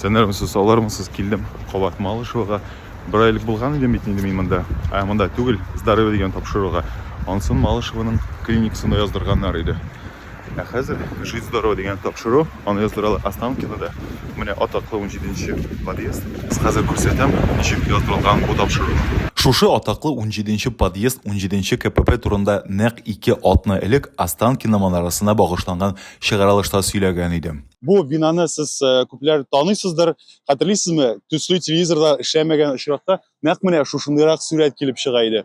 Сөнәрмесез, салармысыз, килдем кабат Малышевага. Бер айлык булган идем бит инде мин монда. Ә монда түгел, здоровье дигән тапшыруга. Ансын Малышеваның клиникасында яздырганнар иде. Ә хәзер жить здорово дигән тапшыру, аны яздыралар Останкинода. Менә атаклы 17 нче подъезд. Хәзер күрсәтәм, ничек яздырылган бу тапшыру. Шушы атаклы 17 нче подъезд 17 нче КПП турында нәкъ ике атна элек Останкино манарасына багышланган чыгарылышта сөйләгән идем. Бу бинаны сез э, күпләр таныйсыздыр, хәтерлисезме? Төсле телевизорда эшләмәгән очракта нәкъ менә шушындыйрак сурәт килеп чыга иде.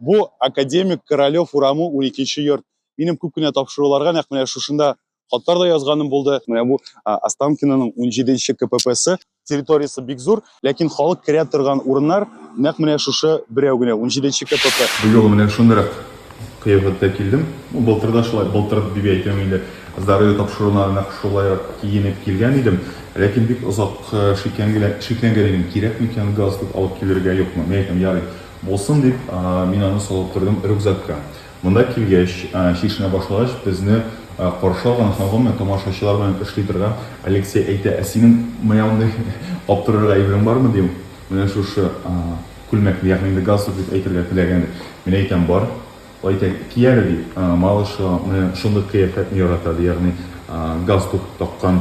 Бу академик Королев урамы 12-нче йорт. Минем күп кенә тапшыруларга нәкъ менә шушында хатлар да язганым булды. Менә бу Останкинаның 17-нче КППсы. территориясе бик зур, ләкин халык керә торган урыннар нәкъ менә шушы берәү генә, унҗиденче КПП. Бу юлы менә шундыйрак кыяфәттә килдем. Ну, былтыр да шулай, былтыр дип әйтәм инде, здоровье тапшыруына нәкъ шулайрак киенеп килгән идем, ләкин бик озак шикләнгән идем, кирәк микән галстук алып килергә, юкмы. Мин әйтәм, ярый, булсын дип, мин аны салып тордым рюкзакка. Монда килгәч, чишенә башлагач, безне каршы алган һәм гомумән тамашачылар белән эшли торган Алексей әйтә, Ә синең менә андый аптырырга әйберең бармы, ди ул. Менә шушы күлмәкне, ягъни инде галстук дип әйтергә теләгәндер. Мин әйтәм, Бар. Ул әйтә, Ки әле, ди. Малыш менә шундый кыяфәтне ярата, ди, ягъни галстук таккан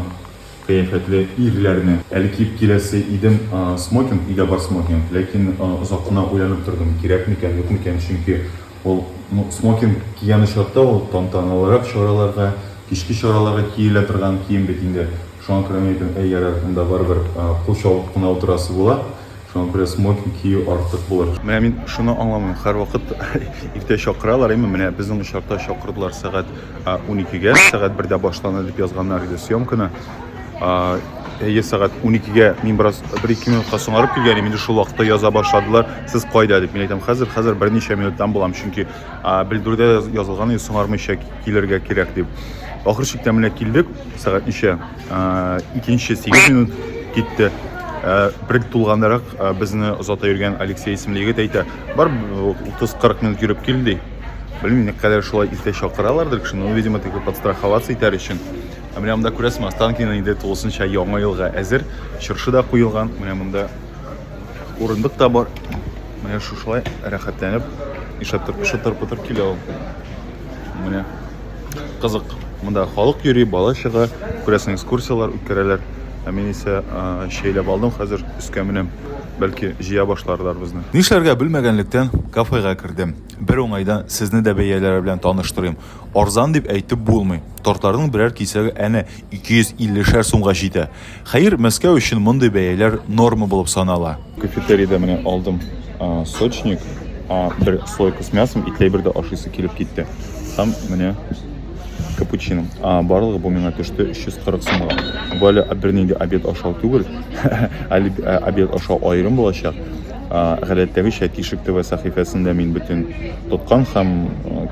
кыяфәтле ирләрне. Әле киеп киләсе идем смокинг, өйдә бар смокинг, ләкин озак кына уйланып тордым, кирәк микән, юк микән, чөнки Ул смокинг кигән очракта ул тантаналырак чараларга, кичке чараларга киелә торган кием бит инде. Шуңа күрә мин әйтәм, әй, ярар, монда барыбер кул чабып кына утырасы була, шуңа күрә смокинг кию артык булыр. Менә мин шуны аңламыйм, һәрвакыт иртә чакыралар, әйме, менә безнең очракта чакырдылар сәгать. 12-гә, сәгать бердә башлана дип язганнар иде съемканы. Әйе, сәгать 12-гә мин бераз 1-2 минутка соңарып килгән идем, инде шул вакытта яза башладылар. Сез кайда дип мин әйтәм, хәзер, хәзер берничә минуттан булам, чөнки белдерүдә язылган иде, соңармыйча килергә кирәк дип. Ахыр чиктә менә килдек, сәгать ничә? Икенче 8 минут китте. Бер тулгандарак безне озата йөргән Алексей исемле егет әйтә, бар 30-40 минут йөреп кил ди. Белмим, ник кадәр шулай иртә чакыралардыр кешене, ну, видимо, тик подстраховаться итәр өчен. Ә менә монда күрәсең, Останкино инде тулысынча яңа елга әзер. Чыршы да куелган. Менә монда урындык та бар. Менә шушылай рәхәтләнеп ишатып шытыр-пытыр килә ул. Менә кызык. Монда халык йөри, бала чыга, күрәсең, экскурсияләр үткәрәләр. Ә мин исә шәйләп алдым, хәзер өскә менәм. Бәлки җыя башларлар безне. Нишләргә белмәгәнлектән кафега кердем. Бер уңайдан сезне дә бәяләре белән таныштырыйм. Арзан дип әйтеп булмый. Тортларның берәр кисәге әнә 250 шәр сумга җитә. Хәер, Мәскәү өчен мондый бәяләр норма булып санала. Кафетериядә менә алдым сочник, бер слойка с мясом, итләй бер дә ашыйсы килеп китте. Һәм менә капучино. Барлыгы бу миңа төште 340 сумга. Бу әле бернинди обед ашау түгел. Әле обед ашау аерым булачак. Гадәттәгечә, Тишек төбе сәхифәсендә мин бөтен тоткан һәм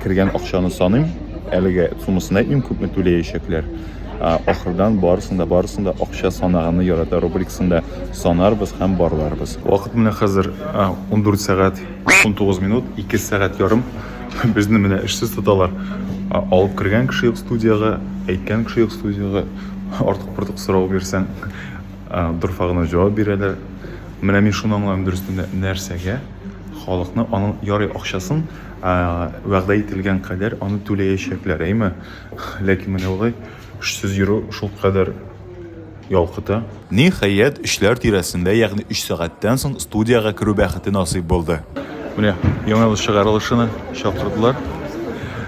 кергән акчаны саныйм. Әлегә суммасын әйтмим, күпме түләячәкләр. Ахырдан барысын да, барысын да акча санаганны ярата рубрикасында санарбыз һәм барларбыз. Вакыт менә хәзер 14 сәгать 19 минут, 2 сәгать ярым. Безне менә эшсез тоталар. Алып кергән кеше юк студиягә, әйткән кеше юк студиягә. Артык-портык сорау бирсәң. Дорфа гына җавап бирәләр. Менә мин шуны аңлам дөрестендә нәрсәгә халыкны аның ярый акчасын вәгъдә ителгән кадәр аны түләячәкләр, әйме? Ләкин менә болай эшсез йөрү шул кадәр ялкыта. Ниһаять, өчләр тирәсендә, ягъни өч сәгатьтән соң студиягә керү бәхете насыйп булды. Менә яңа ел чыгарылышына чакырдылар.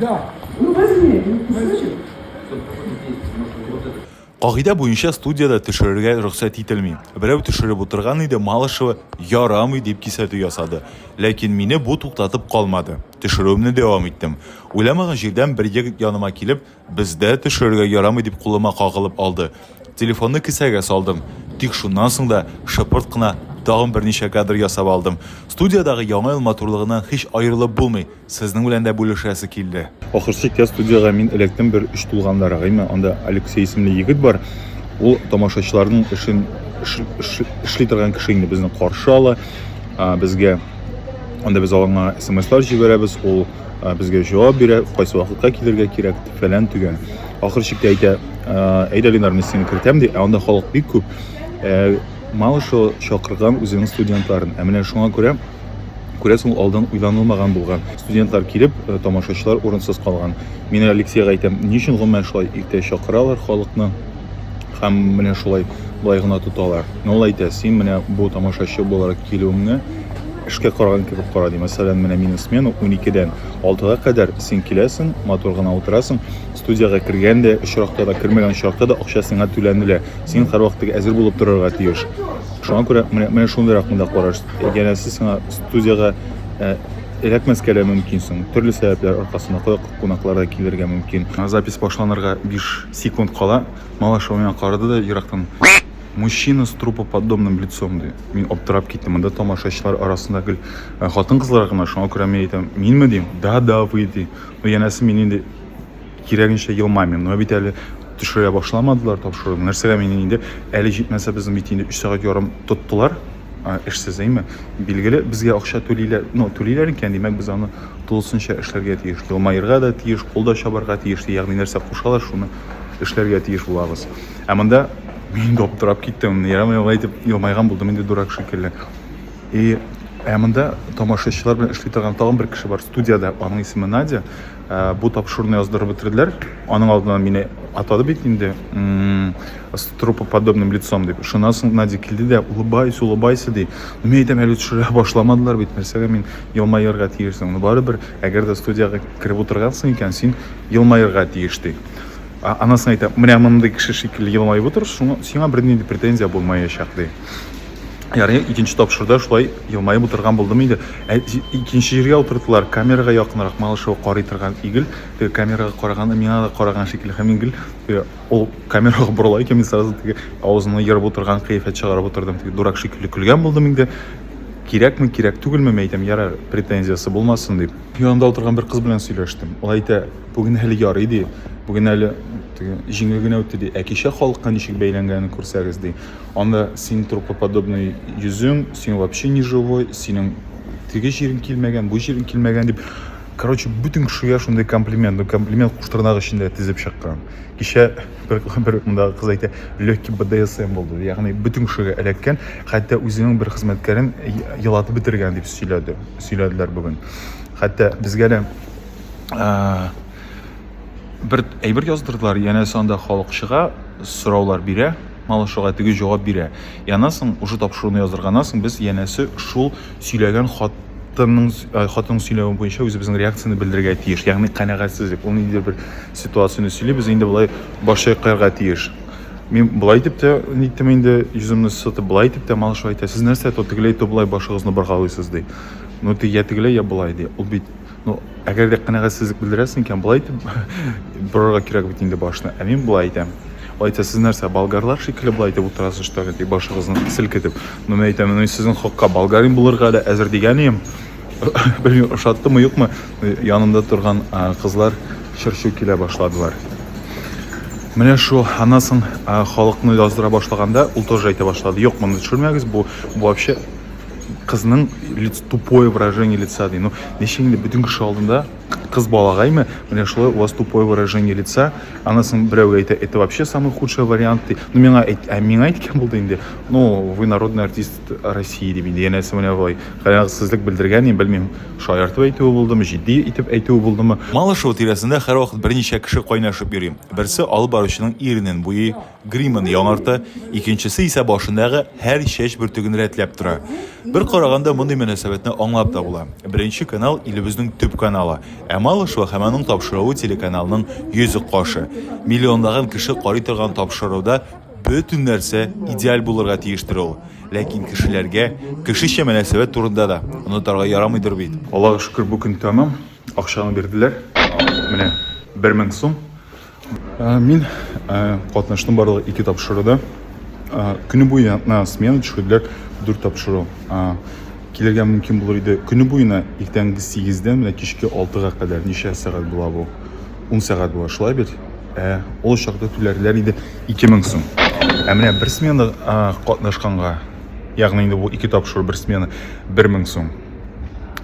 Да. Ну, возьми, ну, кусочек. Кагыйдә буенча студиядә төшерергә рөхсәт ителми. Берәү төшереп утырган иде, Малышева ярамый дип кисәтү ясады. Ләкин мине бу туктатып калмады. Төшерүемне дәвам иттем. Уйламаган җирдән бер егет яныма килеп, Бездә төшерергә ярамый, дип кулыма кагылып алды. Телефонны кесәгә салдым. Тик шуннан соң да шыпырт кына тагын берничә кадр ясап алдым. Студиядагы Яңа ел матурлыгыннан һич аерылып булмый, сезнең белән дә бүлешәсе килде. Ахыр чиктә студиягә мин эләктем, бер өч тулганда гыйме, анда Алексей исемле егет бар. Ул тамашачыларның эшен эшли торган кеше инде безне каршы ала. Безгә анда без аларга смслар җибәрәбез, ул э, безгә җавап бирә, кайсы вакытка килергә кирәк, фәлән төгән. Ахыр чиктә әйтә, э, әйдә Ленар, мин сине кертәм ди, ә анда халык бик күп. Э, мало что чакырган үзенең студентларын. Ә менә шуңа күрә күрәсең ул алдан уйланылмаган булган студентлар килеп э, тамашачылар урынсыз калган мин алексейга әйтәм ни өчен гомумән шулай иртә чакыралар халыкны Һәм менә шулай болай гына тоталар. Ну ул әйтә, син менә бу тамашачы буларак килүеңне эшкә караган кебек кара, ди. Мәсәлән, менә минем смена уникедән алтыга кадәр син киләсең, матур гына утырасың, студиягә кергән дә очракта да, кермәгән очракта да акча сиңа түләнелә. Син һәрвакыт теге әзер булып торырга тиеш. Шуңа күрә менә, менә шундый ракында караш. Янәсе сиңа студиягә ә, эләкмәскә дә мөмкинсең. Төрле сәбәпләр аркасында кунаклар да килергә мөмкин. Запись башланырга 5 секунд кала. малыш миңа карады да ерактан мужчина с трупоподобным лицом ди мин аптырап киттем монда тамашачылар арасында гел э, хатын кызлар гына шуңа күрә мин әйтәм минме дим да да вы ди ну янәсе мин инде кирәгенчә елмаймыйм но бит әле төшерә башламадылар тапшыруны нәрсәгә мин инде әле җитмәсә безне бит инде өч сәгать ярым тоттылар эшсез әйме билгеле безгә акча түлиләр ну түлиләр икән димәк без аны тулысынча эшләргә тиеш елмаерга да тиеш кул да чабарга тиеш ягъни нәрсә кушалар шуны эшләргә тиеш булабыз. Ә монда мин дә аптырап киттем. Ярам алай дип елмайган булдым инде дурак шикелле. И ә монда тамашачылар белән эшли торган тагын бер кеше бар студиядә. Аның исеме Надя. Ә, бу тапшыруны яздырып бетерделәр. Аның алдыннан мине атады бит инде. С трупоподобным лицом дип. Шуннан соң Надя килде дә, улыбайся, улыбайся ди. Мин әйтәм, әле төшерә башламадылар бит. Нәрсәгә мин елмаерга тиеш соң? Барыбер Әгәр дә студиягә кереп утыргансың икән, син елмаерга тиеш, ди. А, анысын әйтә, менә мондый кеше шикелле елмаеп утыр, шуңа, сиңа бернинди претензия булмаячак, ди. Ярый, икенче тапшырда шулай елмаеп утырган булдым инде. Ә икенче җиргә утырдылар, камерага якынрак Малышева карый торган ий гел, теге камерага караган, миңа да караган шикелле һәм мин гел теге ул камерага борыла икән, мин сразу теге авызымны ерып утырган кыяфәт чыгарып утырдым, теге дурак шикелле көлгән булдым инде. Кирәкме, кирәк түгелме, мин әйтәм, ярар, претензиясе булмасын дип. Янында утырган бер кыз белән сөйләштем. Ул әйтә, бүген әле ярый ди, бүген әле җиңел генә үтте ди. Ә кичә халыкка ничек бәйләнгәнен күрсәгез ди. Анда син трупоподобный йөзең, син вообще не живой, синең теге җирең килмәгән, бу җирең килмәгән дип. Короче, бөтен кешегә шундый комплимент, ну комплимент куштырнак эчендә тезеп чыккан. Кичә бер бер мондагы кыз әйтә легкий бдсм булды ягъни бөтен кешегә эләккән хәтта үзенең бер хезмәткәрен елатып бетергән дип сөйләде сөйләделәр бүген хәтта безгә дә бер әйбер яздырдылар янәсе анда халык чыга сораулар бирә малышуга теге җавап бирә янасың уже тапшыруны яздырганнан соң без янәсе шул сөйләгән хатынның э, хатынның сөйләве буенча үзебезнең реакцияне белдерергә тиеш ягъни канәгатьсезлек ул ниндидер бер ситуацияне сөйли без инде болай баш чайкарга тиеш мин былай итеп тә ниттем инде йөземне сытып былай итеп тә малыш әйтә сез нәрсә то тегеләй то болай башыгызны боргалыйсыз ди ну я тегеләй я болай ди ул бит ну әгәр дә канәгатьсезлек белдерәсең икән болай итеп борырга кирәк бит инде башны ә мин болай әйтәм алай итә сез нәрсә болгарлар шикелле болай итеп утырасыз что ли дип башыгызны селкетеп ну мен әйтәм ну сезнең хакка болгарин булырга да әзер дигән идем белмим ошаттымы юкмы янымда торган кызлар чырчу килә башладылар Менә шул аннан соң халыкны яздыра башлаганда ул тоже әйтә башлады. Юк, моны төшермәгез, бу, бу вообще кызның лиц тупое выражение лица ди ну ничек инде бөтен кеше алдында кыз балагаймы менә шулай у вас тупое выражение лица анысын берәү әйтә это вообще самый худший вариант ди ну миңа әйт ә миңа әйткән булды инде ну вы народный артист россии дип инде янәсе менә болай канәгатьсезлек белдергән мин белмим шаяртып әйтүе булдымы җитди итеп әйтүе булдымы Малышево тирәсендә һәрвакыт берничә кеше кайнашып йөри. Берсе алып баручының иренен буйый, Гримын яңарта, икенчесе исә башындагы һәр чәч бөртеген рәтләп тора. Бер караганда мондый мөнәсәбәтне аңлап та була. Беренче канал илебезнең төп каналы, ә Малышева һәм аның тапшыруы телеканалның йөзек кашы. Миллионлаган кеше карый торган тапшыруда бөтен нәрсә идеаль булырга тиештер ул. Ләкин кешеләргә, кешечә мөнәсәбәт турында да онытарга ярамыйдыр бит. Аллага шөкер, бу көн тәмам. Акчаны бирделәр. Менә бер мең сум. Мин катнаштым барлыгы ике тапшыруда. Көне буена смена төшерделәр, дүрт тапшыру. Килергә мөмкин булыр иде. Көне буена иртәнге 8-дән менә кичке 6-га кадәр ничә сәгать була бу? 10 сәгать була, шулай бит? Ә ул чакта түләрләр иде 2000 сум. Ә менә бер смена катнашканга, ягъни инде бу ике тапшыру бер смена 1000 сум.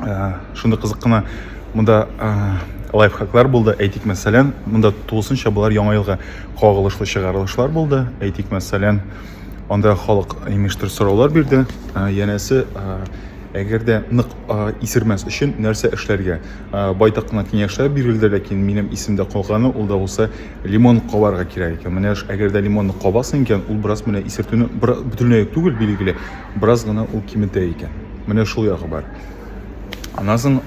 ә, шундый кызык кына монда ә, лайфхаклар булды әйтик мәсәлән монда тулысынча болар яңа елга кагылышлы чыгарылышлар булды әйтик мәсәлән анда халык имештер сораулар бирде ә, янәсе ә, әгәр дә нык ә, исермәс өчен нәрсә эшләргә ә, байтак кына киңәшләр бирелде ләкин минем исемдә калганы ул да булса лимон кабарга кирәк икән менә әгәр дә лимонны кабасың икән ул бераз менә исертүне бөтенләй түгел билгеле бераз гына ул киметә икән. Менә шул ягы бар. Аннан соң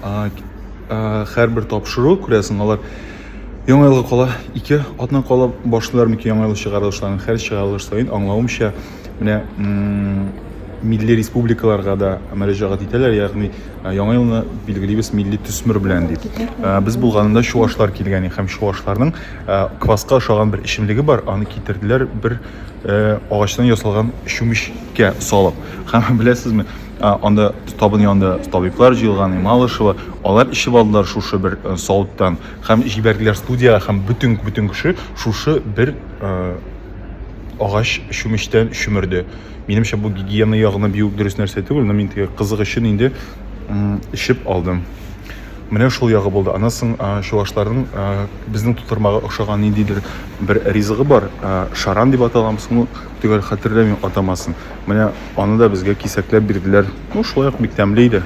һәрбер тапшыру, күрәсең, алар яңа елга кала ике атна кала башлыйлар микән яңа ел чыгарылышларын. Һәр чыгарылыш саен аңлавымча, менә милли республикаларга да мөрәҗәгать итәләр, ягъни яңа елны билгелибез милли төсмер белән дип. Без булганында чуашлар килгән һәм чуашларның кваска ошаган бер эчемлеге бар, аны китерделәр бер Э, агачтан ясалган чүмечкә салып. Һәм беләсезме, анда табын янында табиблар җыелган, Малышева, алар ишеп алдылар шушы бер э, сауыттан һәм җибәрделәр студиягә һәм бөтен бөтен кеше шушы бер э, агач чүмечтән чөмерде. Минемчә бу гигиена ягына бик дөрес нәрсә түгел, но мин теге кызык өчен инде ишеп алдым. Менә шул ягы булды. Аннан соң чувашларның безнең тутырмага охшаган ниндидер бер ризыгы бар, шаран дип аталамыз, ну, төгәл хәтерләмим атамасын. Менә аны да безгә кисәкләп бирделәр. Ну, шулай ук бик тәмле иде.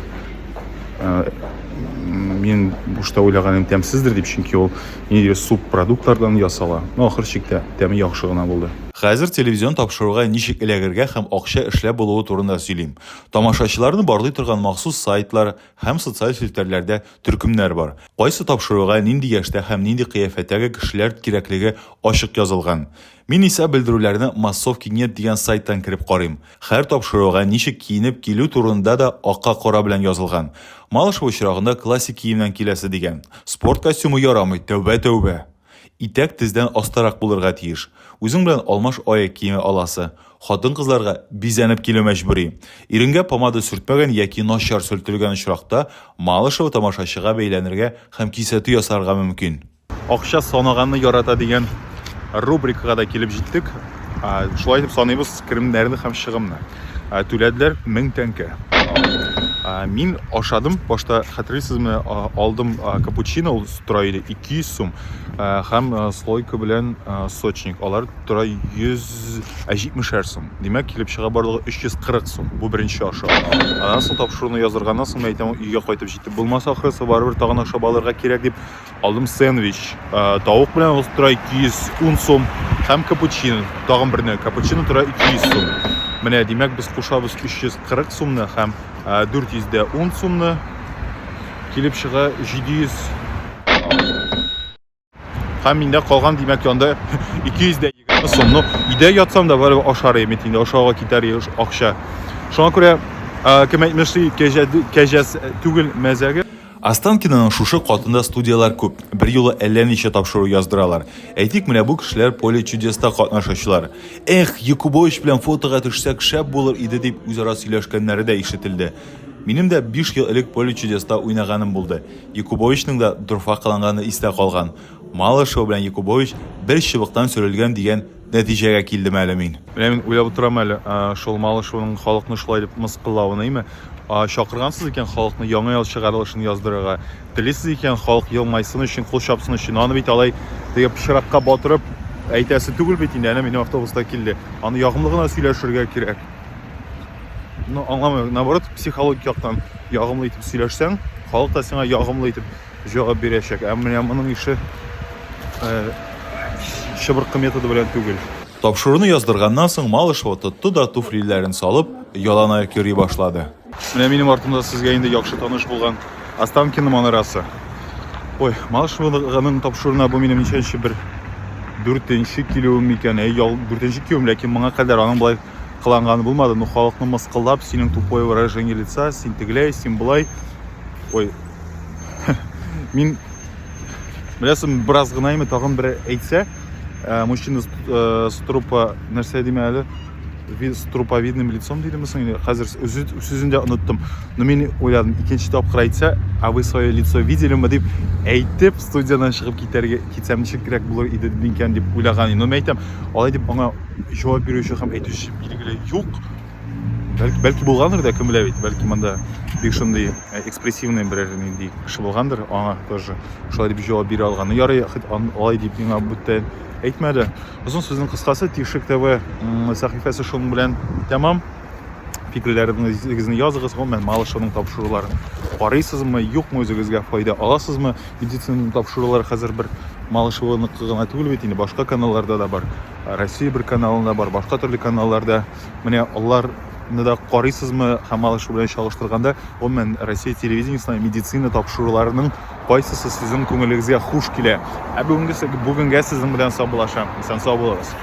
Мин бушта уйлаганым тәмсездер дип, чөнки ул ниндидер субпродуктлардан ясала. Ну, ахыр чиктә тәме яхшы гына булды. Хәзер телевизион тапшыруга ничек эләгергә һәм акча эшләп булуы турында сөйлим. Тамашачыларны барлый торган махсус сайтлар, һәм социаль челтәрләрдә төркемнәр бар. Кайсы тапшыруга нинди яшьтә һәм нинди кыяфәттәге кешеләр кирәклеге ачык язылган. Мин исә белдерүләрне Массовки нет дигән сайттан кереп карыйм. Хәр тапшыруга ничек киенеп килү турында да акка кара белән язылган. Малышева очрагында классик киемнән киләсе дигән. Спорт костюмы ярамый, тәүбә-тәүбә! Итәк тездән астарак булырга тиеш. Үзең белән алмаш аяк киеме аласы. Хатын-кызларга бизәнеп килү мәҗбүри. Иренгә помада сөртмәгән яки начар сөртелгән очракта, Малышева тамашачыга бәйләнергә һәм кисәтү ясарга мөмкин. Акча санаганны ярата дигән рубрикага да килеп җиттек. Шулай итеп саныйбыз керемнәрне һәм чыгымны. Ә түләделәр 1000 тәңкә. Ә, мин ашадым, башта хәтерлисезме, а, алдым а, капучино, ул тора иде 200 сум, ә, һәм а, слойка белән а, сочник, алар тора 170 сум. Димәк, килеп чыга барлыгы 340 сум. Бу беренче аша. Аннан соң тапшыруны яздырганнан соң, мин әйтәм, өйгә кайтып җитеп булмас, ахрысы, барыбер тагын ашап алырга кирәк дип, Алдым сэндвич, тавык белән ул тора 210 сум һәм капучино, тагын берне капучино тора 200 сум. Менә димәк без кушабыз 340 сумны һәм 410 сумны килеп чыга 700 һәм миндә калган димәк янда 220 сум. Ну, өйдә ятсам да бары ашар идем инде, ашауга китәр акча. Шуңа күрә кем әйтмешли, кәҗә түгел мәзәге. Останкинаның шушы катында студияләр күп, берьюлы әллә ничә тапшыру яздыралар. Әйтик, менә бу кешеләр Поле чудеста катнашучылар. Эх, Якубович белән фотога төшсәк, шәп булыр иде, дип үзара сөйләшкәннәре дә ишетелде. Минем дә биш ел элек Поле чудеста уйнаганым булды. Якубовичның да дорфа кыланганы истә калган. Малышева белән Якубович бер чыбыктан сөрелгән дигән Нәтиҗәгә килдем әле мин. Менә мин уйлап утырам әле, шул Малышеваның халыкны шулай дип мыскыллавын, әйме? Чакыргансыз икән халыкны Яңа ел чыгарылышын яздырырга, телисез икән халык елмайсын өчен, кул чапсын өчен, аны бит алай теге пычракка батырып әйтәсе түгел бит инде, әнә минем автобус та килде. Аны ягымлы гына сөйләшергә кирәк. Ну, аңламыйм, наоборот, психологик яктан ягымлы итеп сөйләшсәң, халык та сиңа ягымлы итеп Җавап бирәчәк. Ә менә моның ише чыбыркы методы белән түгел. Тапшыруны яздырганнан соң Малышева тотты да туфлиләрен салып, яланаяк йөри башлады. Менә минем артымда сезгә инде яхшы таныш булган Останкино манарасы. Ой, Малышеваның тапшыруына бу минем ничәнче бер дүртенче килүем микән? Әй, ял, дүртенче килүем, ләкин моңа кадәр аның болай кыланганы булмады, но халыкны мыскыллап, синең тупое выражение лица, син тегеләй, син болай. Ой. Мин беләсем бераз гына име тагын бер әйтсә, э, мужчина э, с трупа нәрсә диме әле? с труповидным лицом дидеме соң или хәзер сүзен дә оныттым но мин уйладым икенче тапкыр әйтсә а вы свое лицо видели мы дип әйтеп студиядан чыгып китәргә китсәм ничегрәк булыр иде микән дип уйлаган идем но мен әйтәм алай дип аңа җавап бирүче һәм әйтүче билгеле юк бәлки, бәлки булгандыр да кем белә бит бәлки монда бик шундый э, экспрессивный берәр нинди кеше булгандыр аңа тоже шулай дип җавап бирә алган ну ярый алай дип миңа бүтән әйтмәде озын сүзнең кыскасы тишек тв сәхифәсе шуның белән тәмам фикерләрегезне языгыз гомумән малышевның тапшыруларын карыйсызмы юкмы үзегезгә файда аласызмы Медицинаны тапшырулар хәзер бер Малышеваныкы гына түгел бит инде, башка каналларда да бар. Россия бер каналында бар, башка төрле каналларда. Менә аларны да карыйсызмы һәм Малышева белән чагыштырганда, гомумән Россия телевидениесенә медицина тапшыруларының кайсысы сезнең күңелегезгә хуш килә? Ә бүгенгесе бүгенгә сезнең белән саубуллашам. Исән сау булыгыз.